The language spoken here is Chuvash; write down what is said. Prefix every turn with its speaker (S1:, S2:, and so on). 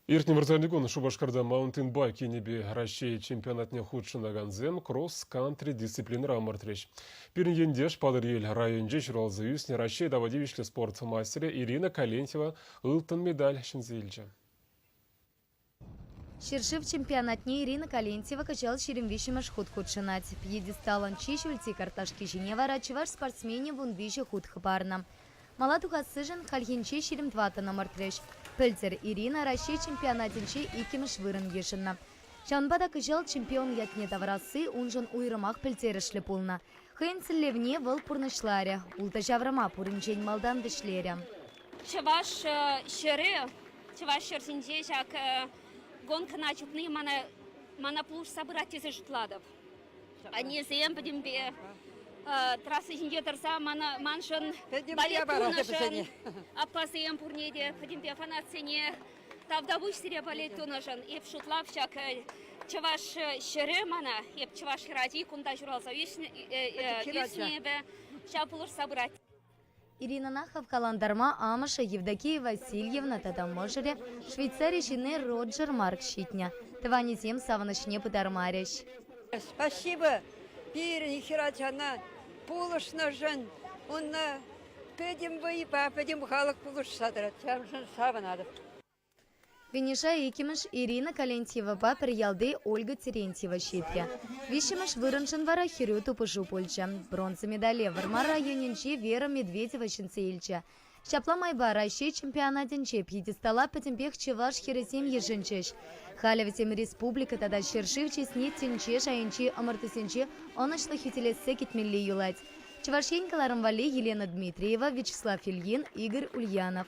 S1: Иртнӗ вырсарникун Шупашкарта маунтинбайк енӗпе Раҫҫей чемпионатне хутшӑнакансем кросс-кантри дисциплинӑра ӑмӑртрӗҫ. Пирӗн ентеш Патӑрьел районӗнче ҫуралса ӳснӗ Раҫҫей тава тивӗҫлӗ спорт мастерӗ Ирина Калентьева ылтӑн медаль ҫӗнсе илчӗ.
S2: Ҫӗршыв чемпионатне Ирина Калентьева кӑҫал ҫирӗм виҫҫӗмӗш хут хутшӑнать. Пьедесталӑн чи ҫӳлти карташки ҫине вара чӑваш спортсменӗ вун виҫӗ хут хӑпарнӑ. Мала тухассишӗн хальхинче ҫирӗм тӑваттӑн ӑмӑртрӗҫ. Пӗлтӗр Ирина Раҫҫей чемпионатӗнче иккӗмӗш вырӑн йышӑннӑ. Ҫавӑнпа та кӑҫал чемпион ятне тавӑрасси уншӑн уйрӑмах пӗлтерӗшлӗ пулнӑ. Хӑйӗн сӗллевне вӑл пурнӑҫларӗ, ултӑ ҫаврӑма пуринчен малтан вӗҫлерӗ. Чӑваш
S3: ҫӗрӗ чӑваш ҫӗр ҫинче ҫак гонкӑна чупни мана пулӑшса пырать тесе шутлатӑп. Аннесем пӗтӗмпе трасса ҫинче тӑрса маншӑн балет тунӑшӑн, аппасем пурне те пӗтӗмпе фанатсене тавтапуҫ сире балет тунӑшӑн. Эп шутлап ҫак чӑваш ҫӗрӗ мана, эп чӑваш хӗрачи кунта ҫуралса ӳснӗ эпӗ, ҫав пулӑшса пырать. Иринӑна
S2: хавхалантарма амӑшӗ Евдокия Васильевна тата мӑшӑрӗ, Швейцари ҫынни Роджер Марк ҫитнӗ. Тӑванӗсем савӑнӑҫне пытармарӗҫ. Спасибо
S4: пирӗн хӗрачана пулӑшнӑшӑн. Унна пӗтӗм вӑйпа пӗтӗм халӑх пулӑшса тӑрать. Ҫавӑншӑн савӑнатӑп.
S2: Виниша иккӗмӗш Ирина Калентьевӑпа пӗр ялти Ольга Терентьева ҫитрӗ. Виҫҫӗмӗш вырӑншӑн вара хӗрӳ тупӑшу пулчӗ. Бронза медале Вӑрмар районӗнчи Вера Медведева ҫӗнсе илчӗ. Ҫапла майпа Раҫҫей чемпионатӗнче пьедестала пӗтӗмпех чӑваш хӗрӗсем йышӑнчӗҫ. Халӗ вӗсем республика тата ҫӗршыв чысне тӗнче шайӗнчи ӑмӑртусенче ӑнӑҫлӑ хӳтӗлессе кӗтмелли юлать. Чӑваш Ен кӑларӑм валли Елена Дмитриева, Вячеслав Ильин, Игорь Ульянов.